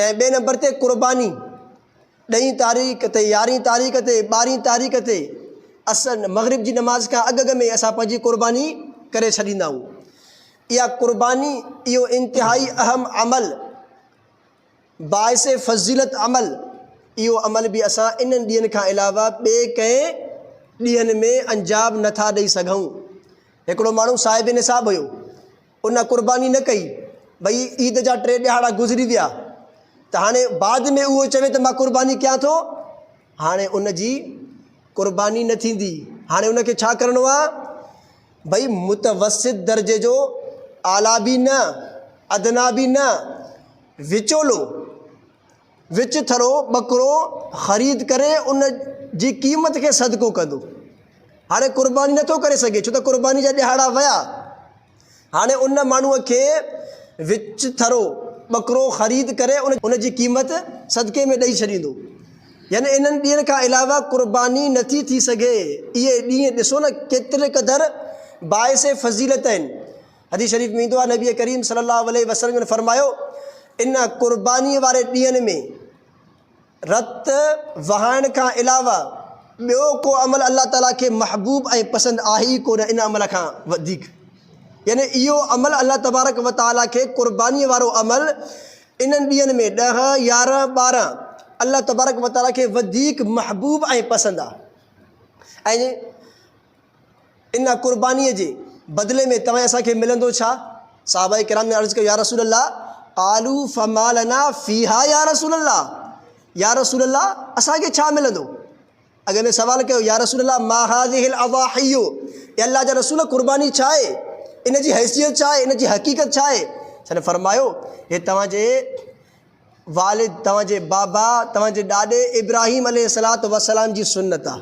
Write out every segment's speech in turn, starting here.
۽ ٻئي نمبر تي قرباني ڏهين تاريخ تي يارهين تاريخ تي ٻارهين تاريخ تي عصر مغرب جي نماز کان اڳ اڳ ۾ اسان پنهنجي قرباني ڪري ڇڏيندا آهيون اها قرباني اهو انتهائي اهم عمل باعث فضيلت عمل اهو عمل به اسان انهن ڏينهن کان علاوه ٻئي ڪنهن ڏينهن ۾ انجام نٿا ڏئي سگهون هڪڙو ماڻهو صاحب نصاب هيو ان قرباني نه ڪئي. ٻئي عيد جا ٽي ڏهاڙا گذري ويا ته هاڻي بعد ۾ اهو چوي ته مان قرباني ڪيان ٿو، هاڻي ان جي قرباني نه ٿيندي. هاڻي ان کي ڇا ڪرڻو آهي؟ ڀئي متوسط درجي جو اعليٰ به نه، ادنيٰ به نه، وچولو. وچ ٿرو ٻڪرو خريد ڪري ان جي قيمت کي صدقو ڪندو. هاڻي قرباني نه ٿو ڪري سگهي ڇو ته قرباني جا ڏهاڙا ويا. هاڻي ان ماڻهوء کي وچ ٿرو ٻڪرو خريد ڪري ان جي قيمت صدقي ۾ ڏئي ڇڏيندو. يعني انهن ڏينهن کان علاوه قرباني نه ٿي ٿي سگهي. اهي ڏينهن ڏسو نه ڪيتري قدر باعث فضيلت آهن. حديث شريف ۾ ايندو آهي نبي ڪريم صلي الله عليه وسلم جن فرمايو، ان قربانيء واري ڏينهن ۾ رت وهائڻ کان علاوه ٻيو ڪو عمل الله تعاليٰ کي محبوب ۽ پسند آهي ئي ڪونه ان عمل کان وڌيڪ يعني اهو عمل الله تبارڪ وتعاليٰ کي قربانيء وارو عمل انهن ڏينهن ۾ ڏهه يارهن ٻارهن الله تبارڪ وتعاليٰ کي وڌيڪ محبوب ۽ پسند آهي ۽ ان قربانيء جي بدلي ۾ توهين اسان کي ملندو ڇا؟ صحابه ڪرام جن عرض ڪيو، يا رسول الله، قالو فما لنا فيها يا رسول الله، يا رسول الله اسان کي ڇا ملندو؟ اڳي ۾ سوال ڪيو، يا رسول الله ما هذه الاضاحي، اي الله جا رسول قرباني ڇا آهي؟ ان جي حيثيت ڇا آهي؟ ان جي حقيقت ڇا آهي؟ سن فرمايو، هي توهان جي والد، توهان جي بابا، توهان جي ڏاڏي ابراهيم عليه الصلوة والسلام جي سنت آهي.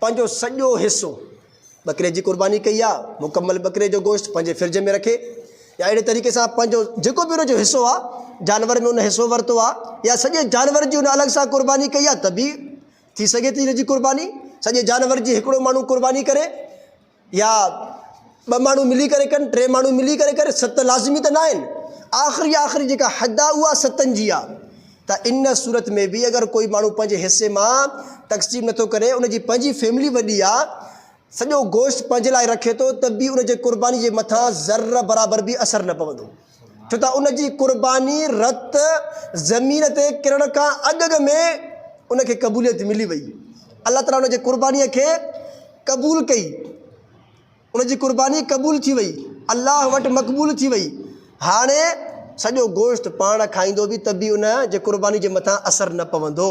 پنهنجو سڄو حصو ٻڪري جي قرباني ڪئي يا مڪمل ٻڪري جو گوشت پنهنجي فرج ۾ رکي يا اهڙي طريقي سان پنهنجو جيڪو به ان جو حصو آ جانور ۾ ان حصو ورتو آ يا سڄي جانور جي ان الڳ سان قرباني ڪئي آ ته به ٿي سگهي ٿي ان جي قرباني سڄي جانور جي هڪڙو ماڻهو قرباني ڪري يا ٻه ماڻهو ملي ڪري ڪن، ٽي ماڻهو ملي ڪري ڪن، ست لازمي ته ناهن. آخري آخري جيڪا حد آهي اها ستن جي آهي ته ان صورت ۾ به اگر ڪوئي ماڻهو پنهنجي حصي مان تقسيم نٿو ڪري ان جي پنهنجي فيملي وڏي آهي سڄو گوشت پنهنجي لاء رکي ٿو ته به ان جي قرباني جي مٿان ذره برابر به اثر نه پوندو. ڇو ته ان جي قرباني رت زمين تي ڪرڻ کان اڳ اڳ ۾ ان کي قبوليت ملي وئي. الله تعاليٰ ان جي قربانيء کي قبول ڪئي. ان جي قرباني قبول ٿي وئي. الله وٽ مقبول ٿي وئي. هاڻي سڄو گوشت پاڻ کائيندو به ته به ان جي قرباني جي مٿان اثر نه پوندو.